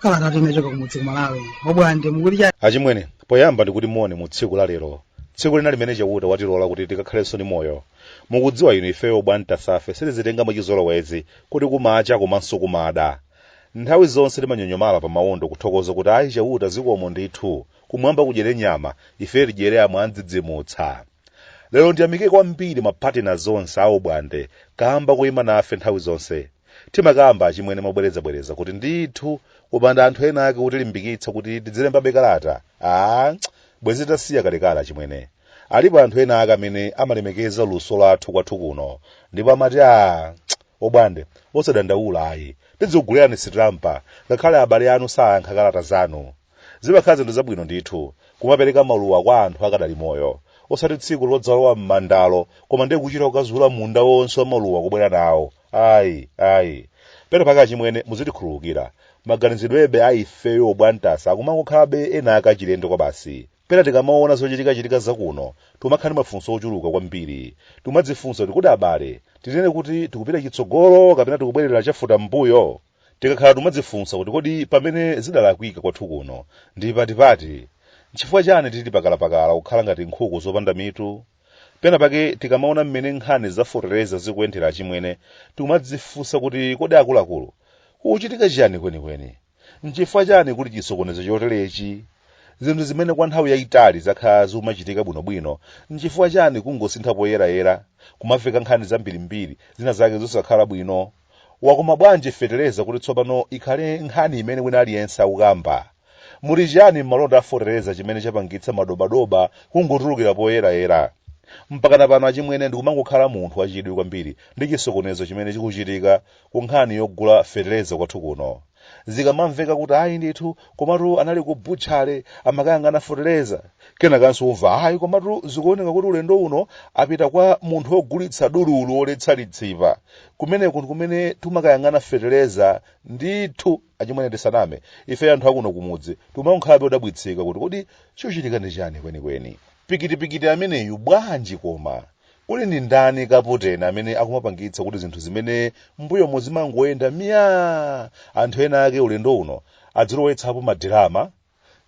Kalata yochoka kumudzi kumalawi obwande mukulija achimwene poyamba ndikuti moni mu tsiku la lero tsiku lina limene chauta watilola kuti tikakhalenso ndi moyo mukudziwa inu ifeyo bwantasafe sitizitenga mwachizolowezi kuti kumacha komanso kumada Nthawi zonse timanyonyomala pa mawondo kuthokoza kuti ayi Chauta zikomo ndithu, kumwamba kudyere nyama, ife tidyere amwandzidzimutsa. Lero ndiyamike kwambiri ma partners onse a Obwande kamba koyima nafe nthawi zonse. Timakamba achimwene mobwerezabwereza kuti ndithu kupanda anthu ena ake otilimbikitsa kuti tidzilembabe kalata, aah, bwenzi titasiya kalekale achimwene. Alipo anthu ena ake amene amalemekeza luso lathu kwathu kuno ndipo amati aah, Obwande, osadandaula ayi. Tidzikugulirani sitampa, ngakhale abale anu sayankha kalata zanu. Zimakhala zinthu zabwino ndithu, kumapereka maluwa kwa anthu akadali moyo, osati tsiku lodzalowa m'mandalo koma ndiye kuchita kukazuula munda wonse wa maluwa kubwera nawo. Ayi, ayi. Pena pake achimwene, muzitikhululukira. Maganizidwebe a ifeyo obwantasa akumangokhalabe ena ake achilendo kwabasi. pena tikamaona zochitikachitika zakuno timakhala ndi mafunso ochuluka kwambiri timadzifunsa kuti kodi abale tinene kuti tikupita chitsogolo kapena tikubwerera chafuta m'mbuyo tikakhala timadzifunsa kuti kodi pamene zidalakwika kwathu kuno ndi patipati nchifukwa chani tili pakalapakala kukhala ngati nkhuku zopanda mitu pena pake tikamaona mmene nkhani zafotereza zikuyendera achimwene timadzifunsa kuti kodi akuluakulu kukuchitika chiyani kwenikweni N'chifukwa chani kuli chisokonezo choterechi? Zinthu zimene kwa nthawi yaitali zakhala zikumachitika bwinobwino, n'chifukwa chani kungosintha poyerayera, kumamveka nkhani zambirimbiri, zina zake zosakhala bwino? Wakoma bwanji fetereza kuti tsopano ikhale nkhani imene wina aliyense akukamba? Muli chiyani m'malonda a fotereza chimene chapangitsa madobadoba kungotulukira poyerayera? Mpakana pano achimwene ndikumangokhala munthu wachidwi kwambiri ndi chisokonezo chimene chikuchitika ku nkhani yogula feteleza kwathu kuno zikamamveka kuti ayi ndithu komatu anali ku butchale amakayang'ana feteleza kenakanso umva ayi komatu zikuoneka kuti ulendo uno apita kwa munthu wogulitsa dululu woletsa litsipa kumeneko ndikumene timakayang'ana feteleza ndithu achimwene tisaname ife anthu akuno kumudzi timangokhalabe odabwitsika kuti kodi chochitika ndi chani kwenikweni pikitipikiti ameneyu bwanji koma Kuli ndi ndani kaputeni amene akumapangitsa kuti zinthu zimene m'mbuyomo zimangoyenda miyaa! Anthu enaake ulendo uno adzilowetsapo madirama.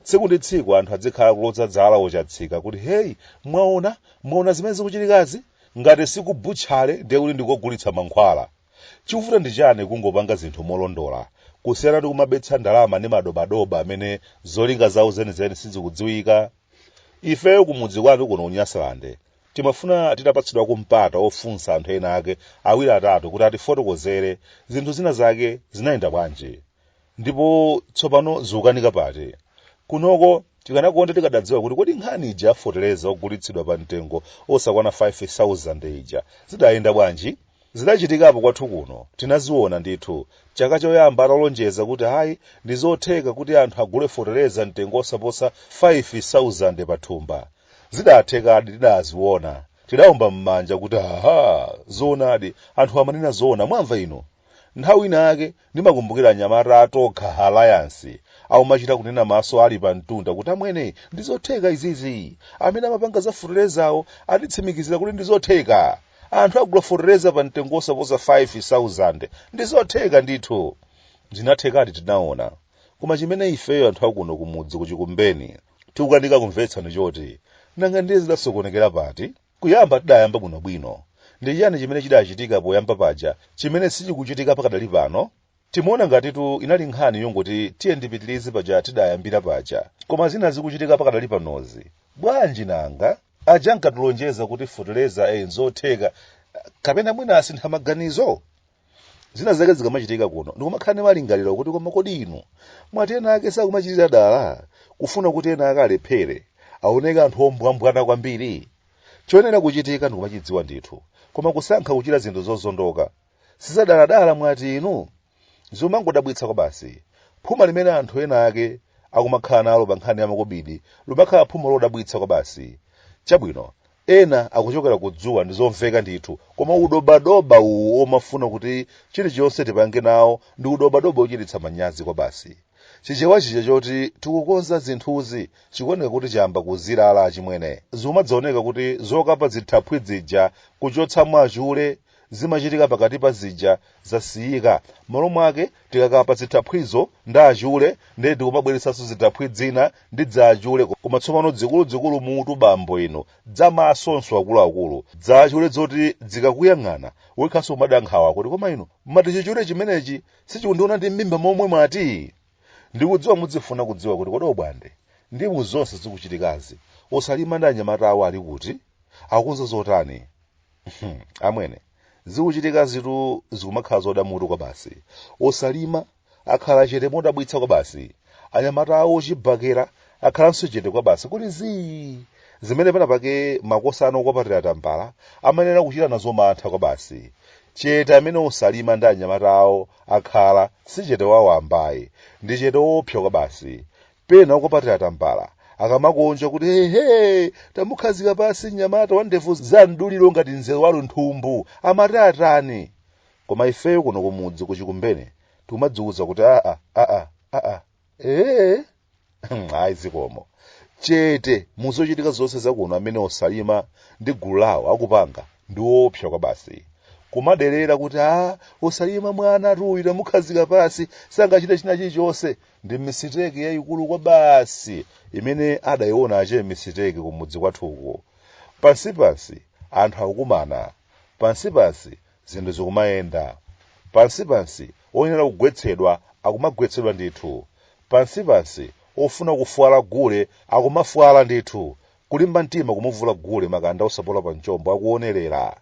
Tsiku ndi tsiku anthu adzikhala akuloza zala wochatsika kuti, Heyi, mwaona? Mwaona zimene zikuchitikazi? Ngati si ku butchale ndiye kuti ndi kogulitsa mankhwala. Chikuvuta ndi chiyani kungopanga zinthu molondola kusiyana ndi kumabetsa ndalama ndi madobadoba amene zolinga zawo zenizeni sizikudziwika? Ifeyo kumudzi kwanu kuno ku Nyasalande Timafuna titapatsidwako mpata wofunsa anthu enaake awiri atatu kuti atifotokozere zinthu zina zake zinayenda bwanji, ndipo tsopano zikukanika pati. Kunoko tikanakonda tikadadziwa kuti kodi nkhani ija ya fotereza wogulitsidwa pa mtengo wosakwana 5,000 ija zidayenda bwanji? Zidachitikapo kwathu kuno, tinaziona ndithu. Chaka choyamba atalonjeza kuti hayi, ndi zotheka kuti anthu agule fotereza mtengo wosaposa 5,000 pa thumba, zidathekadi tidaziona tidaomba m'manja kuti aha zoonadi anthu amanena zoona mwamva inu nthawi ina yake ndimakumbukira anyamata a Tokha Alliance aumachita kunena maso ali pa mtunda kuti amwene ndizotheka izizi amene amapanga za foterezawo atitsimikizira kuti ndizotheka anthu agula fotereza pa mtengo wosaposa 5000 ndizotheka ndithu zinathekadi tinaona koma chimene ifeyo anthu akuno kumudzi kuchikumbeni tikukanika kumvetsa ndi choti nanga ndiye zidasokonekera pati kuyamba tidayamba bwinobwino ndi chiyani chimene chidachitika poyamba paja chimene sichikuchitika pakadali pano timaona ngatitu inali nkhani yongoti tiyeni tipitirize paja tidayambira paja koma zina zikuchitika pakadali panozi bwanji nanga aja ankatilonjeza kuti foteleza e nzotheka kapena mwina asintha maganizo zina zake zikamachitika kuno ndikumakhala ndi malingaliro kuti koma kodi inu mwati ena ake sakumachitira dala kufuna kuti ena ake alephere aoneke anthu ombwambwana kwambiri choyenera kuchitika ndikumachidziwa ndithu koma kusankha kuchita zinthu zozondotsa dzadaladala mwati inu zimangodabwitsa kwabasi phuma limene anthu ena ake akumakhala nalo pa nkhani ya makobidi likumakhala phuma lodabwitsa kwabasi chabwino ena akuchokera ku dzuwa ndi zomveka ndithu koma udobadoba uwu omafuna kuti chilichonse tipange nawo ndi udobadoba ochititsa manyazi kwabasi chichewa chija choti tikukonza zinthuzi chikuoneka kuti chayamba kuzirala achimwene zimadzaoneka kuti zokapa zithaphwi zija kuchotsamo achule zimachitika pakati pa zija zasiyika malo mwake tikakapa zithaphwizo ndi achule ndiye tikumabweretsanso zithaphwi dzina ndi dza achule koma tsopano dzikuludzikulu mutu bambo inu dza masonso akuluakulu dza achule dzoti dzikakuyang'ana wekhanso umada nkhawa kuti koma inu mati chichule chimenechi sichikundiona ndi m'mimba momwe mwati ndikudziwa mudzifuna kudziwa kuti kodi obwande ndi mu zonse zikuchitikazi osalima ndi anyamata awo ali kuti akunza zotani Hmm, amwene zikuchitikazitu zikumakhala zoda mutu kwabasi osalima akhala chete modabwitsa kwabasi anyamata awo ochibakera akhalanso chete kwabasi kuti zii zimene penapake makosana okwapatira tambala amayenera kuchita nazo mantha kwabasi chete amene osalima ndi anyamata awo akhala si chete wawamba ayi ndi chete woopsa kwabasi pena okupatira tambala akamakondwa kuti hehe tamukhazika pasi mnyamata wa ndevu za mduliro ngati mzere wa lunthumbu amati atani koma ifeyo kuno kumudzi kuchikumbene tikumadziwuza kuti aa aa aa ee ayi zikomo chete muzochitika zonse zakuno amene osalima ndi gulu lawo akupanga ndi woopsa kwabasi kumaderera kuti a osalima mwanatu uyu tamukhazika pasi sangachite china chilichonse ndi misiteki yayikulu kwabasi imene adayiona a che misiteki kumudzi kwathuku pansipansi anthu akukumana pansipansi zinthu zikumayenda pansipansi oyenera kugwetsedwa akumagwetsedwa ndithu pansipansi ofuna kufwala gule akumafwala ndithu kulimba mtima kumuvula gule makanda osapola pa mchombo akuonerera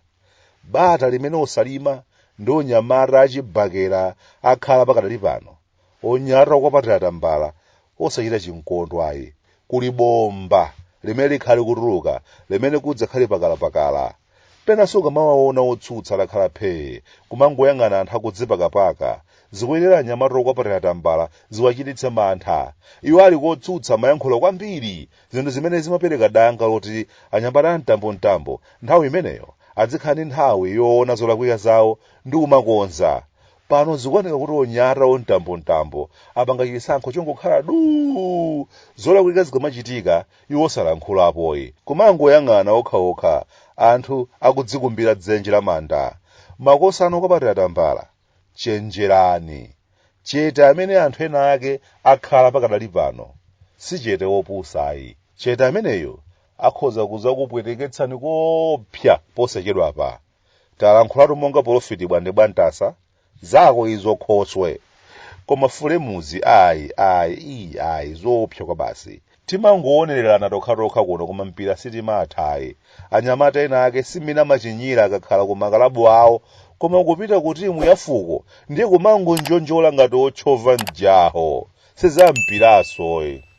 bata limene osalima ndi onyamata achibakera akhala pakadali pano onyamata okwapatira tambala osachita chimkondwa ayi kuli bomba limene likhale kutuluka limene kudzakhale pakalapakala penanso ukamawaona otsutsa atakhala phee kumangoyang'ana anthu akudzipakapaka zikuyenera anyamata okwapatira tambala ziwachititse mantha iwo ali kotsutsa amayankhula kwambiri zinthu zimene zimapereka danga loti anyamata amtambomtambo nthawi imeneyo adzikhala ndi nthawi yoona zolakwika zawo ndi kumakonza pano zikuoneka kuti onyamata omtambomtambo apanga chisankho chongokhala duu zolakwika zikamachitika iwo osalankhulapo ayi kumangoyang'ana okhaokha anthu akudzikumbira dzenje la manda makosana okwapatira tambala chenjerani chete amene anthu ena ake akhala pakadali pano si chete wopusa ayi chete ameneyo akhoza kuzakupweteketsani koopsa posachedwapa talankhulatu monga polofiti bwande bwantasa zako izo khoswe koma fulemuzi ayi ayi iyi ayi zoopsa kwa basi timangowonererana tokhatokha kuno koma mpira sitimatha ayi anyamata ena ake simmene amachinyira akakhala ku makalabu awo koma kupita ku timu ya fuko ndiye kumangonjonjola ngati otchova mjaho sizampiranso ayi